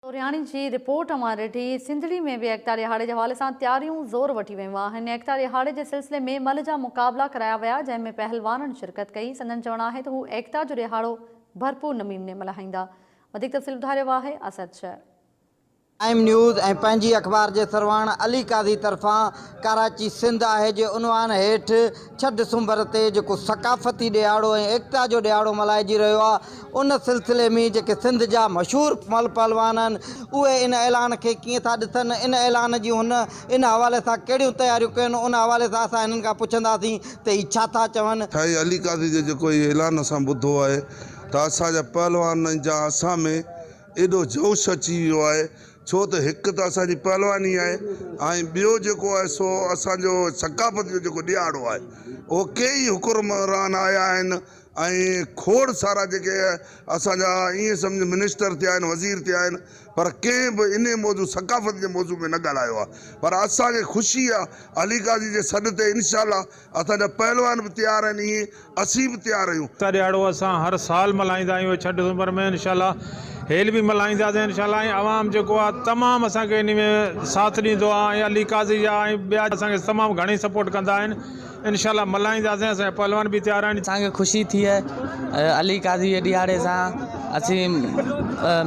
سورهياڻي جي رپورٽ اوهان ڏٺي. سنڌڙي ۾ به ايڪتا ڏهاڙي جي حوالي سان تياريون زور وٺي ويون آهن. ايڪتا ڏهاڙي جي سلسلي ۾ ملهه جا مقابلا ڪرايا ويا جنهن ۾ پهلوانن شرڪت ڪئي. سندن چوڻ آهي ته هو ايڪتا جو ڏهاڙو ڀرپور نميمني ملهائيندا. وڌيڪ تفصيل ٻڌاريو آهي اسد شر. ٽائيم نيوز ۽ پنهنجي اخبار جي سرواڻ علي قاضي طرفان ڪراچي سنڌ آهي جي عنوان هيٺ ڇهه ڊسمبر تي جيڪو ثقافتي ڏهاڙو ۽ ايڪتا جو ڏهاڙو ملهائجي رهيو آهي ان سلسلي ۾ جيڪي سنڌ جا مشهور پهلوان آهن اهي ان اعلان کي ڪيئن ٿا ڏسن ان اعلان جي هن ان حوالي سان ڪهڙيون تياريون ڪيون ان حوالي سان اسان هنن کان پڇنداسين ته هي ڇا ٿا چون. سائين علي قاضي جو جيڪو هي اعلان اسان ٻڌو آهي ته اسان جا پهلوان ۽ جا اسان ۾ ايڏو جوش اچي ويو آهي ڇو ته هڪ ته اسان جي پهلواني آهي ۽ ٻيو جيڪو آهي سو اسان جو ثقافت جو جيڪو ڏيهاڙو آهي اهو ڪيئي حڪرمران آيا آهن ۽ کوڙ سارا جيڪي اسان جا ائين سمجهه منسٽر ٿيا آهن وزير ٿيا آهن پر ڪنهن به انهي موضوع ثقافت جي موضوع ۾ نه ڳالهايو آهي پر اسان کي خوشي آهي علي قاضي جي سڏ تي انشاء الله اسان جا پهلوان به تيار آهن ايئن اسين به تيار آهيون. ايڪتا ڏيهاڙو اسان هر سال ملهائيندا آهيون ڇهه ڊسمبر ۾ انشاء الله هيل به ملهائينداسين انشاء الله ۽ عوام جيڪو آهي تمام اسان کي انهي ۾ ساٿ ڏيندو آهي ۽ علي قاضي جا ۽ ٻيا اسان کي تمام گهڻي سپورٽ ڪندا آهن انشاء الله ملهائينداسين اسان جا پهلوان به تيار آهن. اسان کي خوشي ٿئي علي قاضي جي ڏيهاڙي سان اسين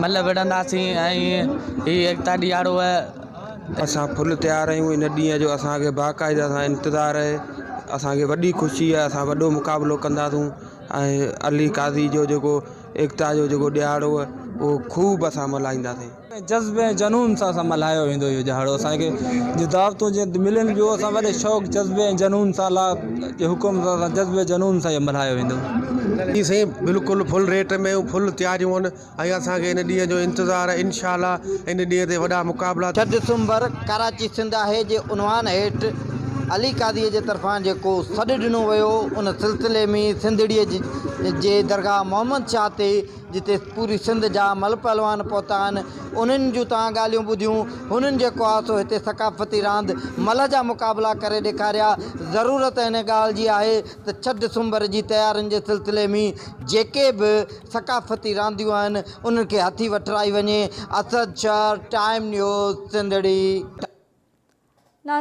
ملهه وڙهنداسين ۽ هي ايڪتا ڏيهاڙو اسان ڦل تيار آهيون ان ڏينهن جو اسان کي باقاعده سان انتظار آهي اسان کي وڏي خوشي آهي اسان وڏو مقابلو ڪنداسون ۽ علي قاضي جو جيڪو ايڪتا جو جيڪو ڏهاڙو اهو خوب اسان ملهائينداسين. جذبي ۽ جنون سان اسان ملهايو ويندو اهو ڏهاڙو اسان کي جيئن دعوتون جيئن ملن ٻيو اسان وڏي شوق جذبي ۽ جنون سان الله جي حڪم سان اسان جذبي جنون سان اهو ملهايو ويندو. جي سائين بلڪل ڦل ريٽ ۾ ڦل تياريون آهن. اهي اسان کي ان ڏينهن جو انتظار آهي انشاء الله ان ڏينهن تي وڏا مقابلا. ڇهه دسمبر، ڪراچي سنڌ آهي جي عنوان هيٺ علي قاضي جي طرفان جيڪو سڏ ڏنو ويو ان سلسلي ۾ سنڌڙي جي درگاهه محمد شاهه تي جتي پوري سنڌ جا ملهه پهلوان پهتا آهن انهن جون توهان ڳالهيون ٻڌيون هنن جيڪو آهي سو هتي ثقافتي راند ملهه جا مقابلا ڪري ڏيکاريا ضرورت ان ڳالهه جي آهي ته ڇهه دسمبر جي تيارين جي سلسلي ۾ جيڪي به ثقافتي رانديون آهن انهن کي هٿي وٺرائي وڃي اسد شر، ٽائيم نيوز، سنڌڙي.